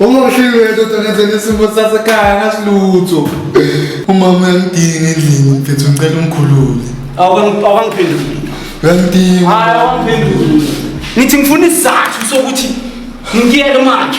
Uma uhlile ndoda ngenzela isimo sasekhaya ngasilutho. Umama uyangidinga endlini mfethu ngicela umkhulule. Awukangiphenduli. Uyangidinga. Hayi awangiphenduli. Ngithi ngifuna isizathu sokuthi ngiyele manje.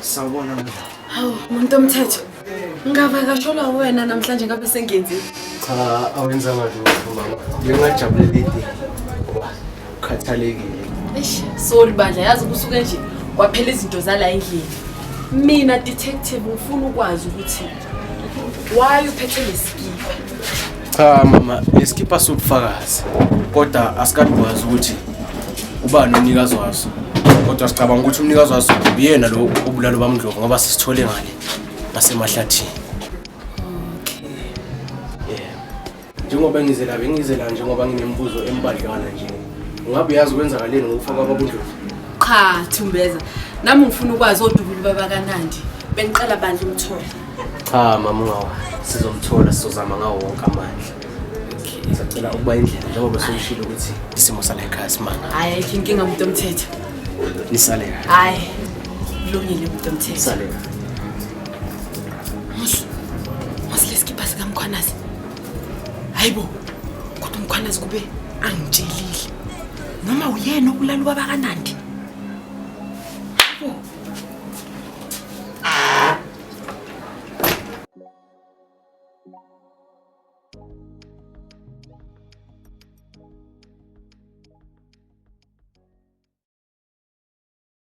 Sawubona mina. Hawu, muntu omthetho. Ngavakashelwa wena namhlanje ngabe sengenzile. Cha, awenzanga lutho mama. Bengajabulela ide. Ukhathalekile. Eish, sorry bandla yazi kusuke nje kwaphela izinto zala endlini. Mina detective ngifuna ukwazi ukuthi Why uphethe lesikipa? Cha mama, lesikipa sobufakazi. Kodwa asikadwazi ukuthi ubani umnikazi waso. Kodwa sicabanga ukuthi umnikazi waso uyena lo obulalo bamndlovu ngoba sisithole ngale ngasemahlathini. njengoba ngize la bengize la njengoba nginemibuzo embadlwana nje ungabe uyazi kwenzakaleni ngokufa kwabakundlovu cha thumbeza nami ngifuna ukwazi odubuli babakanandi bengiqala bandla umthole cha mama ungawa sizomthola sizozama ngawo wonke amandla sacela ukuba indlela njengoba sokushilo ukuthi isimo sala ekhaya simanga hayi ayikho inkinga muntu omthetho nisale hayi kulungile muntu omthetho nisale Musu, musu lesikibha sikamkhwanazi. Hayi bo, kodwa umkhwanazi kube angitshelile. Noma uyena okulala ubaba kaNandi.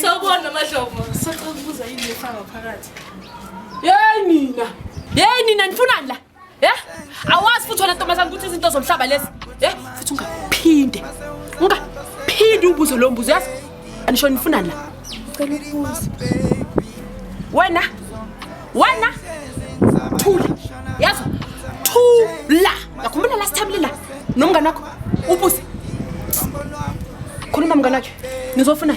Sawubona Madlomo. Sacela ukubuza yini efaka phakathi. Yeyi nina. Yeyi nina nifunani la? Yeah? Awazi futhi wena ntombazana ukuthi izinto zomhlaba lezi. Yeah? Futhi ungaphinde. Ungaphinde ubuze lo mbuzo yazi. Anisho nifunani la? Ngicela ukubuza. Wena? Wena? Thula. Yazi? Thula. Yakhumbula last time lila nomngane wakho ubuze. Khuluma mngane wakhe. Nizofuna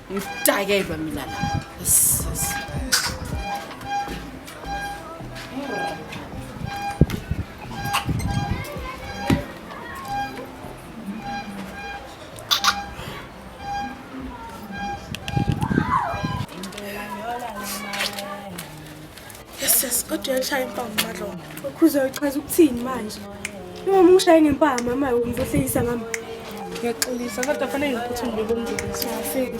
Ngidakelwa mina la. Yes, yes. Yes, yes, kodwa uyashaya impama uMadlongo. Ukhuza uchaza ukuthini manje? Uma umshaye ngempama mama umvuhlekisa ngami. Ngiyaxolisa kodwa fanele ngiphuthume ngibomndeni. Siyafika.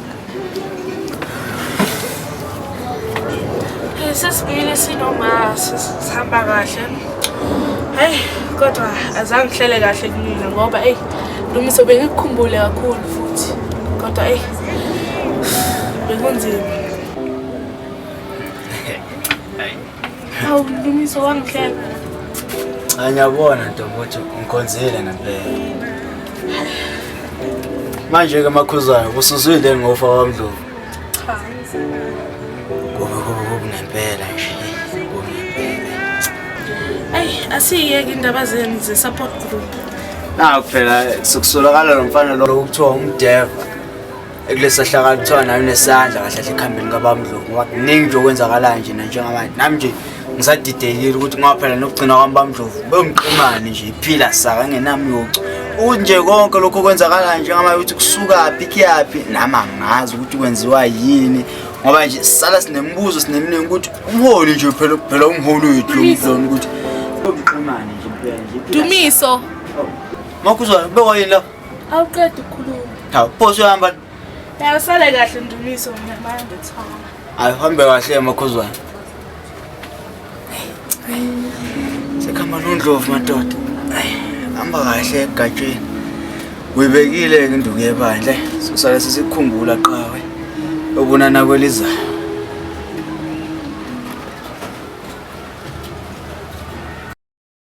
sesibili sinoma sihamba kahle heyi kodwa azange ngihlele kahle kumina ngoba eyi lumiso bengikukhumbule kakhulu futhi kodwa eyi bekunzima Hawu Lumiso wangihleka. Cha ngiyabona ntombi ukuthi ngikhonzile ngempela. Manje ke makhuzayo usuzwile ngofa wamdlovu. Cha. Kubi kubi kubi ngempela nje. Kubi ngempela. Ay asiyeke indaba zenu ze support group. Naku phela sokusolakala lo mfana lo kuthiwa umdeva. ekuleso hlakala kuthiwa nayo nesandla kahle kahle ekuhambeni kabamdlovu ngoba kuningi nje okwenzakalayo nje nanjengamanje nami nje ngisadidekile ukuthi ngaphela nokugcina kwami bamdlovu bemqimane nje iphila saka engenamyocu ukuthi nje konke lokho okwenzakalayo njengamanje ukuthi kusukaphi kuyaphi nami angazi ukuthi kwenziwa yini ngoba nje sisala sinemibuzo sineminingi ukuthi umholi nje phela phela umholi wethu lomdloni ukuthi bemqimane nje phela nje dumiso oh. makuzwa bewayini lapho Awuqedi ukukhuluma. Hawu, phoso uhamba. Yawu sale kahle Ndumiso mina manje ngithoma. Hayi uhambe kahle emakhuzwana. Sekhamba nondlovu madoda. Hayi, hamba kahle egatsheni. Uyibekile ke induku yebandla. Sosale sisikhumbula qawe. Obunana kwelizayo.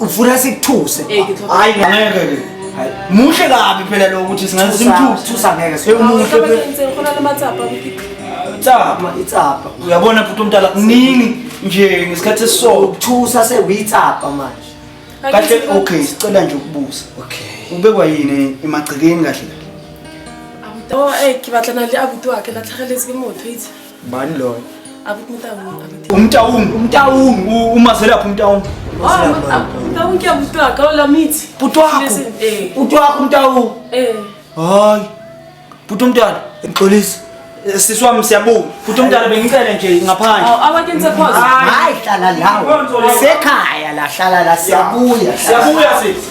ufuna sikuthuse hayi ngeke ke muhle kabi phela lo ukuthi singaze simthuse ngeke siyumuhle itsapha itsapha uyabona futhi umntala kuningi nje ngesikhathi esiso ukuthusa sewitsapha manje kahle okay sicela nje ukubuza okay ubekwa yini emagcekeni kahle kahle oh eh ke batla na le abuti wa ke latlhageletse ke motho itse Bani loyo? Akuthi umtawungu. Umtawungu, umtawungu, uma selapha umtawungu. Umtawungu ke butwa ka ola mithi. Butwa. Eh. Butwa umtawungu. Eh. Hayi. Butwa umntwana, ngixolisa. Eh, sisi wami siyabuka futhi umntana bengicele nje ngaphandle hayi hlala lawo sekhaya la hlala la siyabuya siyabuya sisi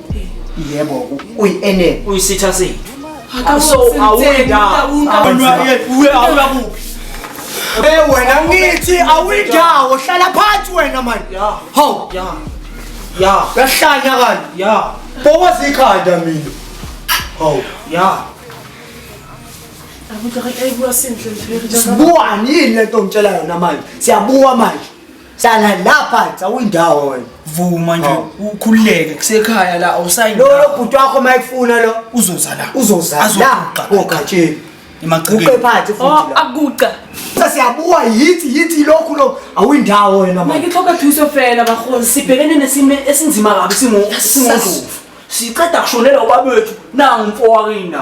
yebo uyi-enel uyisitha sethu wena ngithi awuyindawo hlala phansi wena mani haw yahlanya kanti bokoza ikhanda mina haw sibuwani yini le nto ngitshela yona manje siyabuwa manje Hlala lapha awuyindawo wena. Vuma nje Hawu. ukhululeke kusekhaya la Lo awusayindawo lo bhuti wakho mayifuna lo uzoza la uzoza la Azokuqa. kogatsheni. Emagcekeni. Uqe phansi futhi Oh, la. akuca. Sasiyabuwa yithi yithi lokhu lo awuyindawo wena mama. Mike tlhoka thuso fela bakgoni sibhekene nesimo esinzima kabi singo- singondlovu siqeda kushonela ubabethu nangu mfowakina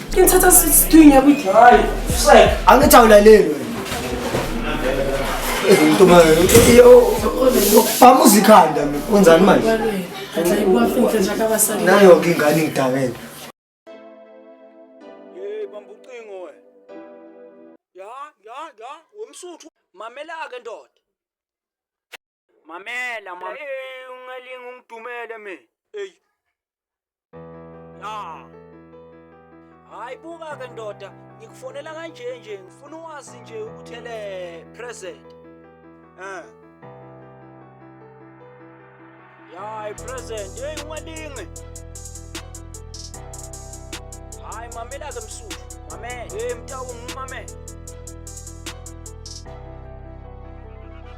Can tell us it's doing every time. It's like I'm not telling you. Into manje. Yo, bamuza ikhanda mina. Wenzani manje? Atla ibuwa finhle nje akabasali. Nayo ke ingane ngidakele. Hey bamba ucingo we. Ya, ya, ya, womsuthu mamela ke ndoda. Mamela mam. Hey ungalinga ungidumele me. Hey. Ah. Hayi buka ke ndoda, ngikufonela kanje nje, ngifuna uwazi nje ukuthi ele present. Eh. Hayi present, hey ungalingi. Hayi mamela ke msuthu. Mamela. Hey mtawu ngimamela.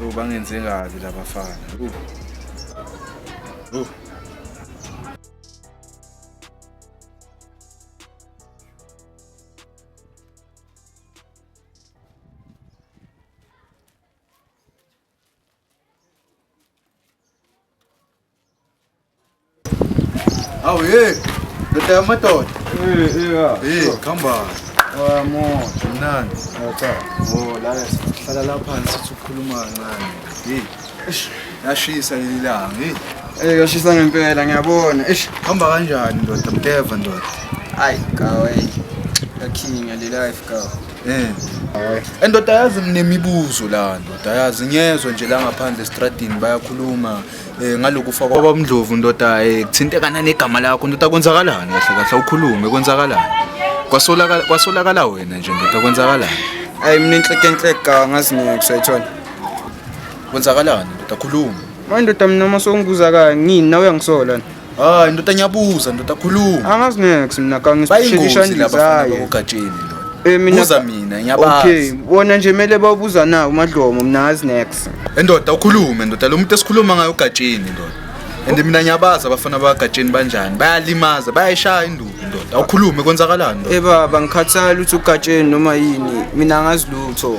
Yho bangenze kabi labafana. Yho. Yho. Awu ye, ndoda yamadoda. Eh, eh, ya. Hey, khamba. Wa mo, mnandi. Yatha. Oh, la sihlala la phansi sithi ukhuluma kancane. Hey. Eish, yashisa leli langa. Hey. Eh, yashisa ngempela ngiyabona. Eish, khamba kanjani ndoda mdeva ndoda. Ay, kawe. Yakhinga le life kawe. Eh. Endoda yazi nginemibuzo la ndoda yazi ngiyezwe nje la ngaphandle estradini bayakhuluma. eh ngalokufa kwaba umndlovu ndoda eh kuthintekana negama lakho ndoda kwenzakalani kahle kahle ukhulume kwenzakalani kwasolakala kwasolakala wena nje ndoda kwenzakalani ayi mina inhleke inhleke angazi ngeke uyayithola kwenzakalani ndoda khuluma manje ndoda mina uma songibuza kangini nawe uyangisola hayi ndoda ngiyabuza ndoda khuluma angazi nex mina kangisishelisha ndizaye ugatsheni Eh mina buza mina ngiyabazi. Okay, bona nje mele bawubuza na uMadlomo mina ngazi next. Endoda ukhulume ndoda lo muntu esikhuluma ngayo ugatsheni ndoda. And mina ngiyabaza abafana bagatsheni banjani bayalimaza bayayishaya induku ndoda awukhulume konzakalani ndoda. Eh baba ngikhathala ukuthi ugatsheni noma yini mina ngazi lutho.